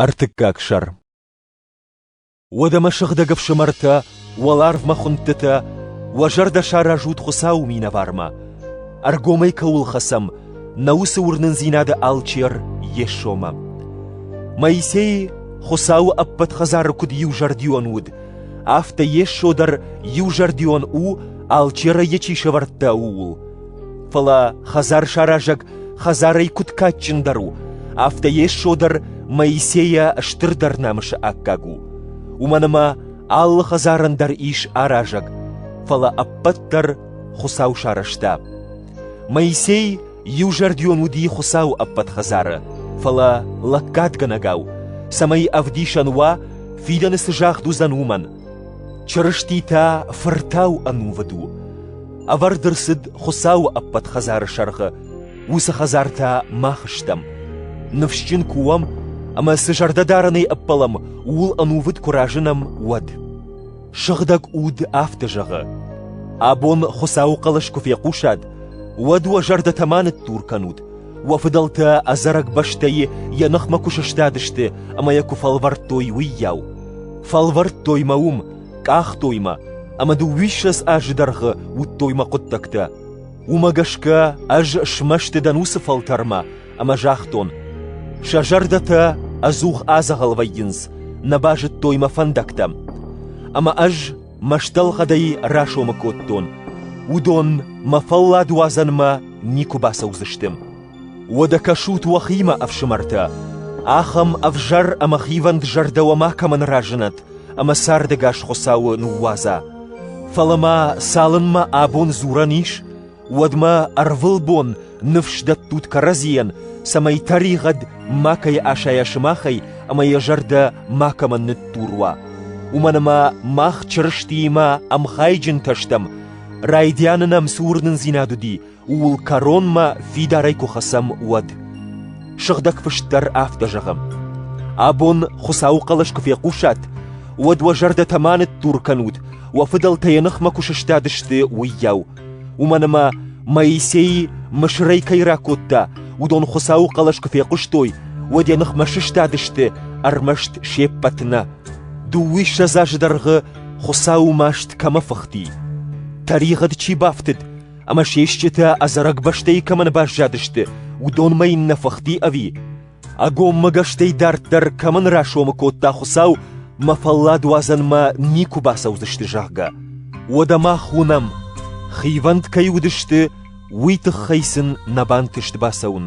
Ӕртыккаг сӕр Уӕдӕ мӕ сыгъдӕг ӕфсымӕртӕ, уӕ ларвмӕ хуындтытӕ, уӕ зӕрдӕ саразут Хуыцауы минӕвармӕ, ӕргомӕй кӕуыл хӕцӕм, нӕ уыцы уырнындзинады алчер Йесомӕ. Моисей Хуыцауы ӕппӕт хӕдзары куыд иузӕрдион уыд, афтӕ Йесо дӕр иузӕрдион у, алчерӕй йӕ чи сӕвӕрдта, ууыл. Фӕлӕ хӕдзарсаразӕг хӕдзарӕй куыд кадджындӕр у, афтӕ Йесо дӕр Моисейӕ стырдӕр намысы аккаг у. Уымӕн ӕмӕ алы хӕдзарӕн дӕр ис аразӕг, фӕлӕ ӕппӕт дӕр Хуыцау сарӕзта. Моисей иузӕрдион уыди Хуыцауы ӕппӕт хӕдзары, фӕлӕ лӕггадгӕнӕгау, цӕмӕй ӕвдисӕн уа, фидӕны цы загъд уыдзӕн, уымӕн. Чырысти та фыртау ӕнувыд у. Ӕвӕрд ӕрцыд Хуыцауы ӕппӕт хӕдзары сӕргъы. Уыцы хӕдзар та мах стӕм. Ныфсджын куы уӕм ӕмӕ цы зӕрдӕдарӕнӕй ӕппӕлӕм, ууыл ӕнувыд куы разынӕм, уӕд. Сыгъдӕг Уд афтӕ зӕгъы: Абон Хуыцауы хъӕлӕс куы фехъусат, уӕд уӕ зӕрдӕтӕ ма ныттур кӕнут, Уӕ фыдӕлтӕ ӕдзӕрӕг бӕстӕйы йӕ ныхмӕ куы сыстадысты ӕмӕ йӕ куы фӕлвӕрдтой, уыйау. Фӕлвӕрдтой мӕ уым, къахтой мӕ, ӕмӕ дыууиссӕдз азы дӕргъы уыдтой мӕ хъуыддӕгтӕ. Уымӕ гӕсгӕ ӕз смӕсты дӕн уыцы фӕлтӕрмӕ ӕмӕ загътон: сӕ зӕрдӕтӕ ӕдзух адзӕгъӕл вӕййынц, нӕ базыдтой мӕ фӕндӕгтӕ. Ӕмӕ ӕз мӕстӕлгъӕдӕй расомы кодтон, уыдон мӕ фӕлладуадзӕнмӕ никуы бацӕудзысты. Уӕдӕ кӕсут уӕхимӕ, ӕфсымӕртӕ, ахӕм ӕвзӕр ӕмӕ хивӕнд зӕрдӕ уӕ макӕмӕн разынӕт ӕмӕ цардӕгас Хуыцауы ныууадза. Фӕлӕ ма цалынмӕ абон дзурӕн ис, Уӕдмӕ ӕрвылбон ныфс дӕттут кӕрӕдзийӕн, цӕмӕй тӕригъӕд макӕй асайа сымахӕй ӕмӕ йӕ зӕрдӕ макӕмӕн ныттур уа. Уымӕн ӕмӕ мах Чырыстиимӕ ӕмхайджынтӕ стӕм, райдианы нӕм цы уырнындзинад уыди, ууыл кӕронмӕ фидарӕй куы хӕцӕм, уӕд. Сыгъдӕг Фыст дӕр афтӕ зӕгъы: Абон Хуыцауы хъӕлӕс куы фехъусат, уӕд уӕ зӕрдӕтӕ ма ныттур кӕнут, уӕ фыдӕлтӕ йӕ ныхмӕ куы сыстадысты, уыйау. Уымӕн ӕмӕ Моисей мысырӕй кӕй ракодта, уыдон Хуыцауы хъӕлӕс куы фехъуыстой, уӕд йӕ ныхмӕ сыстадысты ӕрмӕст се ппӕт нӕ. Дыууиссӕдз азы дӕргъы Хуыцауы маст кӕмӕ фыхти, тӕригъӕд чи бафтыд ӕмӕ се стджытӕ ӕдзӕрӕг бӕстӕйы кӕмӕн баззадысты, уыдонмӕ йын нӕ фыхти ӕви? Ӕгоммӕгӕстӕй дарддӕр кӕмӕн расомы кодта Хуыцау, мӕ фӕлладуадзӕнмӕ никуы бацӕудзысты, зӕгъгӕ, уӕдӕ мах уынӕм, хивӕнд кӕй уыдысты, уый тыххӕй сын нӕ бантыст бацӕуын.